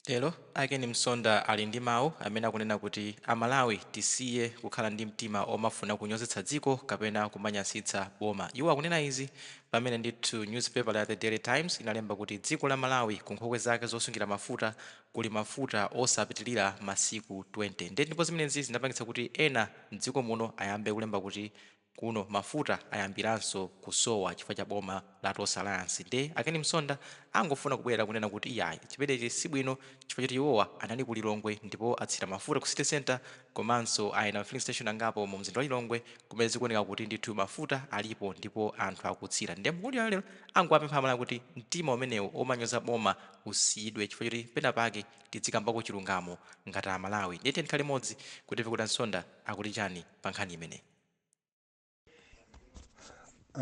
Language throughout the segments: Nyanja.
Lero a Ken Msonda ali ndi mawu amene akunena kuti a Malawi tisiye kukhala ndi mtima omafuna kunyozetsa dziko kapena kumanyasitsa boma. Iwo akunena izi pamene ndithu newspaper ya The Daily Times inalemba kuti dziko la Malawi ku nkhokwe zake zosungira mafuta kuli mafuta osapitilira masiku 20. Nde ndipo zimenezi zinapangitsa kuti ena mdziko muno ayambe kulemba kuti Kuno mafuta ayambilanso kusowa chifukwa cha boma la Tonse Alliance nde a Ken Msonda angofuna kubwera kunena kuti iyayi chimenechi sibwino chifukwa choti iwowa anali ku Lilongwe ndipo atsira mafuta ku City Centre komanso ayenda ma filling station angapo mu mzinda wa Lilongwe kumene zikuoneka kuti ndithu mafuta alipo ndipo anthu akutsira nde mkuluyu lero angowapempha amalawi kuti mtima umenewu omanyoza boma usiyidwe chifukwa choti pena pake tidzikambako chilungamo ngati amalawi nde tiyeni tikhale limodzi kuti timve kodi a Msonda akuti chani pa nkhani imeneyi.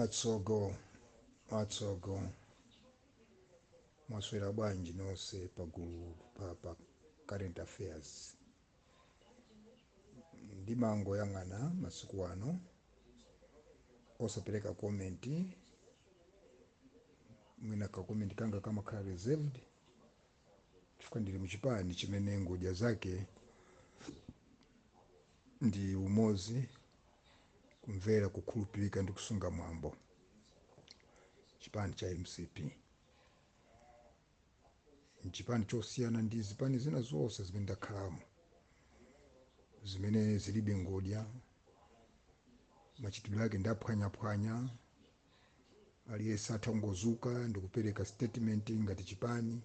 atsogo atsogo mwaswera bwanji nonse pagulu pa, pa current affairs ndimangoyang'ana masiku ano osapereka komenti mwina kakomenti kanga kamakhala reserved chifukwa ndili muchipani chimene ngodya zake ndi umozi kumvera kukhulupirika ndi kusunga mwambo chipani cha mcp nchipani chosiyana ndi zipani zina zonse zimene ndakhalamo zimene zilibe ngodya machitidwe ake ndaphwanyaphwanya aliyense atha kungozuka ndikupereka statement ngati chipani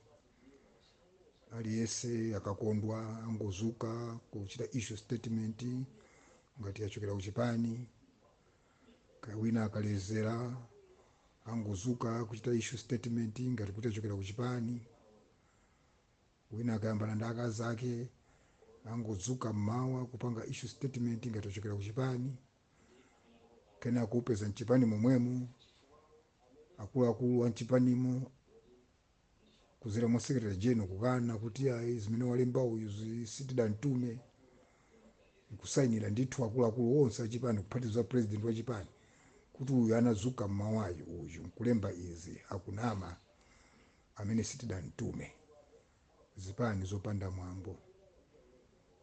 aliyense akakondwa angozuka kuchita issue statement ngati yachokera kuchipani kaya wina akalezera angozuka kuchita issue statement ngati kuti yachokera kuchipani wina akayambana ndi akazi ake angozuka mmawa kupanga issue statement ngati yachokera kuchipani kenako kupeza mchipani momwemo akuluakulu a mchipanimo kuzera mwa secretary general kukana kuti ayi zimene walemba uyu zi- sitidantume nkusayinira ndithu akuluakulu onse achipani kuphatiza president wa chipani kuti uyu anazuka mmawayo uyu nkulemba izi akunama amene sitidantume zipani zopanda mwambo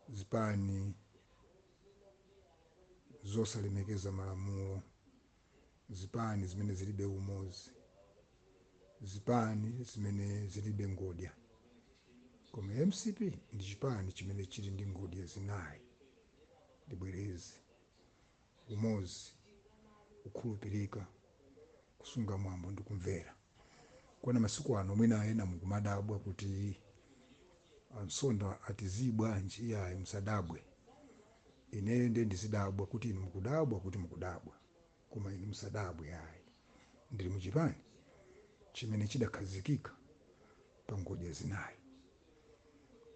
zipani zosalemekeza malamulo, zipani zimene zilibe umozi, zipani zimene zilibe ngodya. Koma mcp ndi chipani chimene chili ndi ngodya zinayi. Ndibwereze, umozi, kukhulupirika, kusunga mwambo ndi kumvera. Kwana masiku ano mwina ena mukumadabwa kuti amsonda ati zii bwanji iyayi musadabwe ineyo ndiye ndizidabwa kuti inu mukudabwa kuti mukudabwa koma inu musadabwe ayi ndili muchipani chimene chidakhazikika pa ngodya zinayi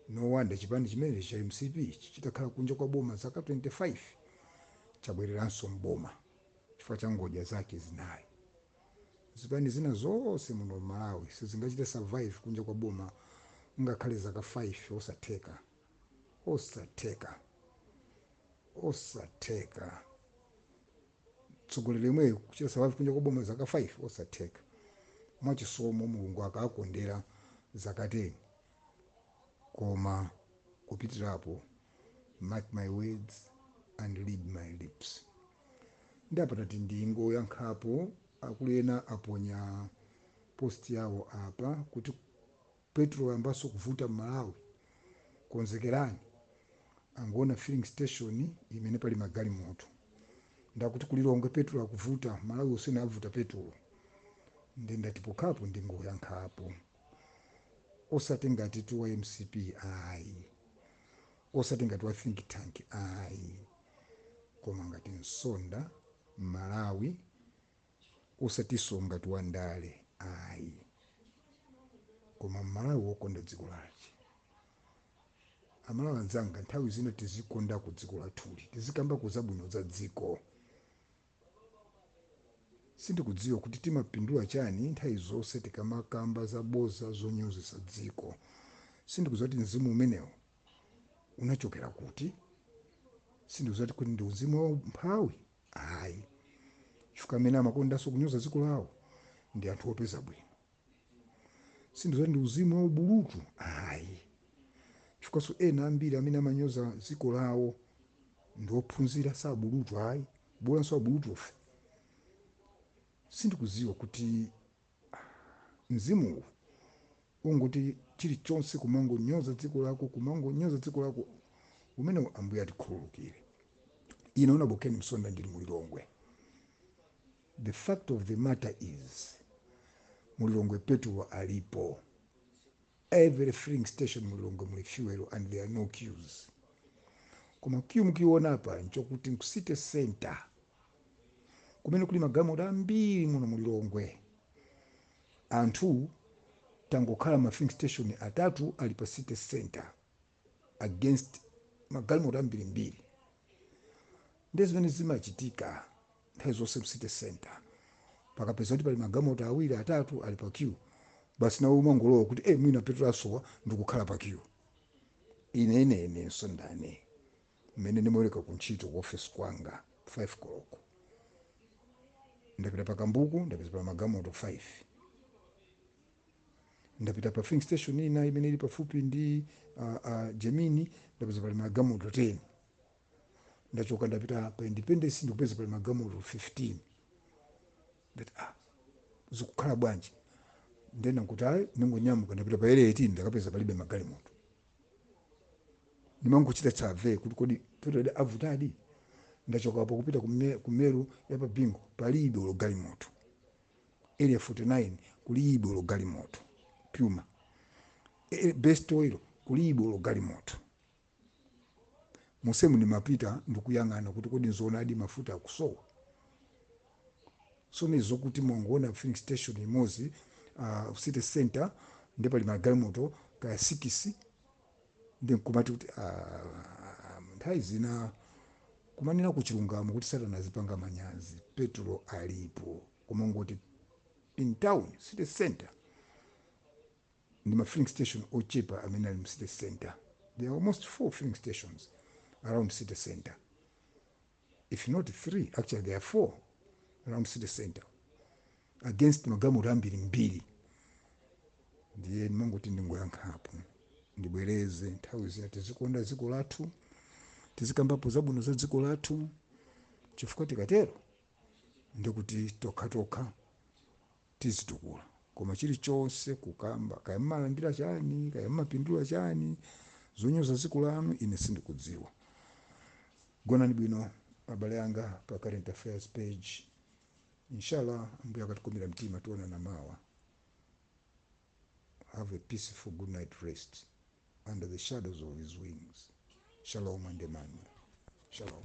no wonder chipani chimenechi cha mcp ichi chitakhala kunja kwa boma zaka 25 chabwereranso mboma chifukwa cha ngodya zake zinayi Zipani zina zonse muno mmalawi sizingachite survive kunja kwa boma ngakhale zaka 5 osatheka osatheka osatheka mtsogoleri yemweyo kuchita survive kunja kwa boma zaka 5 osatheka mwachisomo mulungu akawakondera zaka 10 koma kupitirapo mark my words and read my lips ndiye apa ndati ndingoyankhapo akulu ena aponya post yawo apa kuti petrol wayambaso kuvuta mmalawi konzekerani angoona filling station imene pali magalimoto ndakuti kulilongwe petrol akuvuta malawi yonse avuta petrol nde ndati pokhapo ndingoyankhapo osati ngatitu wa mcp ayi osati ngati wa think tank ayi koma ngati msonda mmalawi osatiso ngatitu wa ndale ayi koma mmalawi wokonda dziko lache amalawi anzanga nthawi zina tizikondako dziko lathuli tizikambako zabwino za dziko Sindikudziwa kuti timapindula chani nthawi zonse tikamakamba zabodza zonyozesa dziko. Sindikudziwa kuti mzimu umenewo unachokera kuti. Sindikudziwa kuti ndi mzimu wa umphawi? Ayi. Chifukwa amene amakondanso kunyoza dziko lawo ndi anthu opeza bwino. sindikudziwa kuti ndi mzimu wa ubulutu ayi chifukwanso ena ambiri amene amanyoza dziko lawo ndi ophunzira si abulutu ayi bolanso abulutufe sindikudziwa kuti mzimu wongoti chilichonse kumangonyoza dziko lako kumangonyoza dziko lako umenewo ambuye atikhululukire ine una wa ken msonda ndili mulilongwe The fact of the matter is mu Lilongwe petulo alipo, every filling station mu Lilongwe muli fuel and there are no queues. Koma queue mukuiona apa nchokuti nku city center kumene kuli magalimoto ambiri muno mu Lilongwe. Anthu tangokhala ndi ma filling station atatu ali pa city center against magalimoto ambirimbiri ndi zimene zimachitika nthawi zonse mu city center pakapeza kuti pali magalimoto awiri atatu ali pa queue basi nawe umangolowa kuti e mwina petulo wasowa ndikukhala pa queue ine ine inenso ndane mmene ndimaweruka ku ntchito ku office kwanga 5 koloko ndapita pa kambuku ndapeza pa magalimoto 5 ndapita pa filling station ina imene ili pafupi ndi uh, uh, gemini ndapeza pali magalimoto 10 ndachoka ndapita pa independence ndikupeza pali magalimoto 15 ndati ah zikukhala bwanji ndena kuti ayi ndingonyamuka ndapita pa area 18 ndakapeza palibe magalimoto ndimangochita survey kuti kodi petulo wavutadi ndachokapo kupita kume- kumeru ya pabingo palibe olo galimoto area 49 kulibe olo galimoto puma e, best oil kulibe olo galimoto mumsewu ndimapita ndikuyang'ana kuti kodi nzoonadi mafuta akusowa so ndi zokuti mwangoona filling station imodzi uh, city center ndi pali magalimoto kaya sikisi ndiye nkumati kuti ah, nthawi zina kumanenako chilungamo kuti satana azipanganso manyazi petulo alipo kumangoti in town city center ndi ma filling station ochepa amene ali mu city center there are almost four filling stations around city center if not 3 actually there are 4 around city center against magalimoto ambirimbiri ndiye ndimangoti ndingoyankhapo ndibwereze nthawi zina tizikonda dziko lathu tizikambapo zabwino za dziko lathu chifukwa tikatero ndikuti tokhatokha tizitukula koma chilichonse kukamba kaya mmalandira chani kaya mmapindula chani zonyoza dziko lanu ine sindikudziwa Gonani bwino abale anga pa current affairs page inshallah ambuye akatikomera mtima tionana mawa have a peaceful good night rest under the shadows of his wings shalom and emmanuel shalom